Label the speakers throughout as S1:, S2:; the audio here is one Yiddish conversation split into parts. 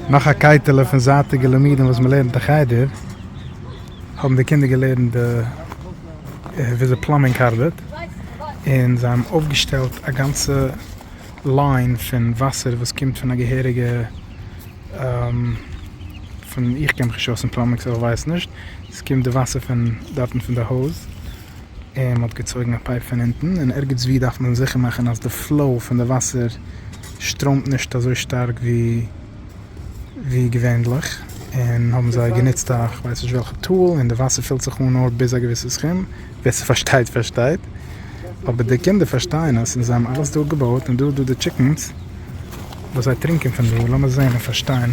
S1: נאך א קייטעלע פון זייטיגע לימודים וואס מ'לערנט אין חדר, האבן די קינדער געלערנט וויאזוי פלאמבינג ארבעט, און זיי האבן אויפגעשטעלט א גאנצע ליין פון וואסער וואס קומט פון א געהעריגע, איך קען מיך נישט אויס אין פלאמבינג סאו איך ווייס נישט, ס'קומט די וואסער פון דארטן פון די הויז, און מ'האט געצויגן א פייפ פון אונטן, און ערגעץ ווי דארף מען זיכער מאכן אז די פלאו פון די וואסער שטראמט נישט אזוי שטארק ווי געווענליך, און האבן זיי גענוצט א כ'ווייס נישט וועלכע טול, און די וואסער פילט זיך אן נאר ביז א געוויסע סכום, ווער ס'פארשטייט פארשטייט, אבער די קינדער פארשטייען עס, און זיי האבן אלעס דא געבויט, און דא איז דא די טשיקנס וואס זיי טרינקען פון דא, לאמיר זען און פארשטיין.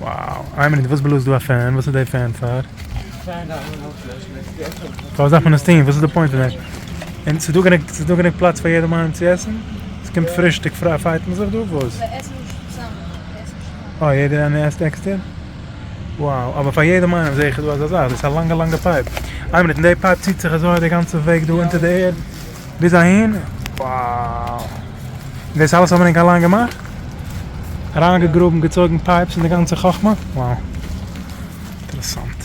S1: וואו, איין מינוט וואס בלאזט דא א פען? וואס איז די פען פאר? פאר וואס דארף מען עס טוהן? וואס איז די פוינט פון דעם? און ס'איז דא גענוג ס'איז דא גענוג פלאץ פאר יעדעם איינעם צו עסן? ס'קומט פרישטאג פריי פייט מען זיך דא? וואס? מיר עסן נישט
S2: צוזאמען. אה
S1: יעדער איינער עסט עקסטער? וואו, אבער פאר יעדעם איינעם זעה איך איז דא אזא זאך, דאס איז א לאנגע לאנגע פייפ, איין מינוט און די פייפ ציט זיך אזוי די גאנצע וועג דא אונטער די ערד? ביז אהין, wow! דאס אלעס האט מען ענק אליין געמאכט? אריינגעגראבן, געצויגן פייפס און די גאנצע חכמה? wow! אינטערעסאנט.